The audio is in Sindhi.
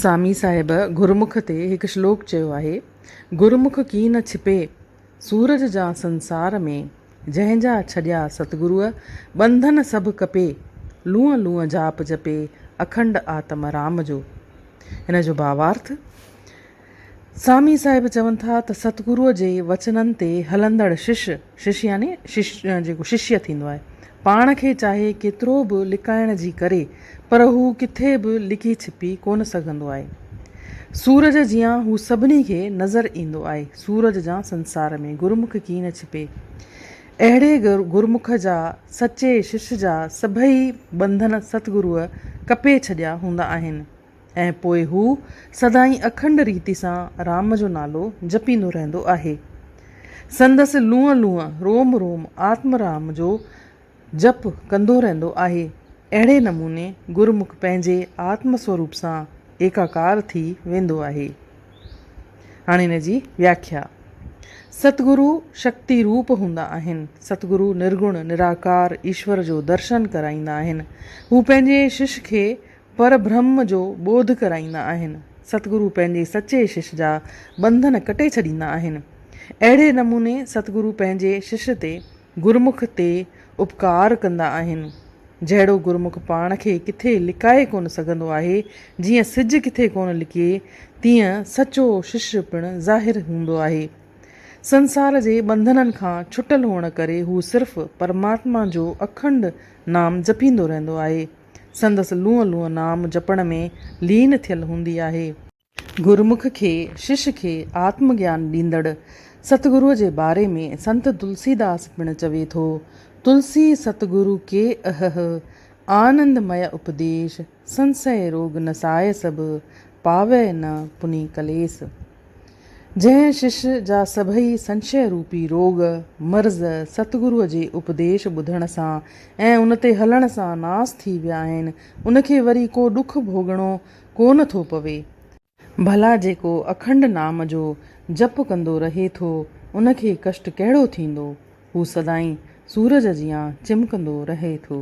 سامي صاحب گرمک تي هڪ شلوڪ چيو آهي، گرمک ڪي نه ڇپي، سورج جان سنسار ۾، جنهن جا ڇڏيا ستگروء، ٻنڌن سڀ ڪپي، لونء لونء جاپ جپي، اکنڊ آتم رام جو. هن جو ڀاوارٿ. سامي صاحب چون ٿا ته ستگروء جي وچنن تي هلندڙ شش، شش يعني شش جيڪو ششيه ٿيندو آهي، پاڻ کي چاهي ڪيترو به لڪائڻ جي ڪري پر هو ڪٿي به لڪي ڇپي ڪونه سگهندو آهي. سورج جيان هو سڀني کي نظر ايندو آهي. سورج جيان سنسار ۾ گرمک ڪي نه ڇپي. اهڙي گرمک جا سچي شش جا سڀئي ٻنڌن ستگروء ڪپي ڇڏيا هوندا آهن. ۽ پوء هو سدائين اکنڊ ريت سان رام جو نالو جپيندو رهندو آهي. سندس لونء لونء، روم روم آتم رام جو جپ ڪندو رهندو آهي. اهڙي نموني گرمک پنهنجي آتم سوروپ سان ايڪاڪار ٿي ويندو آهي. هاڻي ان جي وياکيا. ست گرو شڪتي روپ هوندا آهن. ست گرو نرگڻ نراڪار ايشور جو درشن ڪرائيندا آهن. هو پنهنجي شش کي پر برهم جو ٻوڌ ڪرائيندا آهن. ستگرو پنهنجي سچي شش جا ٻنڌن ڪٽي ڇڏيندا آهن. اهڙي نموني ستگرو پنهنجي شش تي، گرمک تي، اپڪار ڪندا آهن. جهڙو گرمک پاڻ کي ڪٿي لڪائي ڪونه سگهندو آهي، جيئن سج ڪٿي ڪونه لڪي، تيئن سچو شش پڻ ظاهر هوندو آهي. سنسار جي ٻنڌنن کان ڇٽل هئڻ ڪري هو صرف پرماتما جو اکنڊ نام جپيندو رهندو آهي. سندس لونء لونء نام جپڻ ۾ لين ٿيل هوندي آهي. گرمک کي، شش کي، آتم گيان ڏيندڙ ست گروء جي باري ۾ سنت تلسي داس پڻ چوي ٿو، تلسي ست گرو ڪي اهه، آنند مئي اپديش، سنسئي روڳ نسائي سڀ، پاوئي نه پني ڪليس. جنهن شش جا سڀئي سنشيه روپي روڳ، مرض، ستگروء جي اپديش ٻڌڻ سان ۽ ان تي هلڻ سان ناس ٿي ويا آهن، ان کي وري ڪو ڏک ڀوڳڻو ڪونه ٿو پوي. ڀلا جيڪو اکنڊ نام جو جپ ڪندو رهي ٿو، ان کي ڪشٽ ڪهڙو ٿيندو؟ هو سدائين سورج جيان چمڪندو رهي ٿو.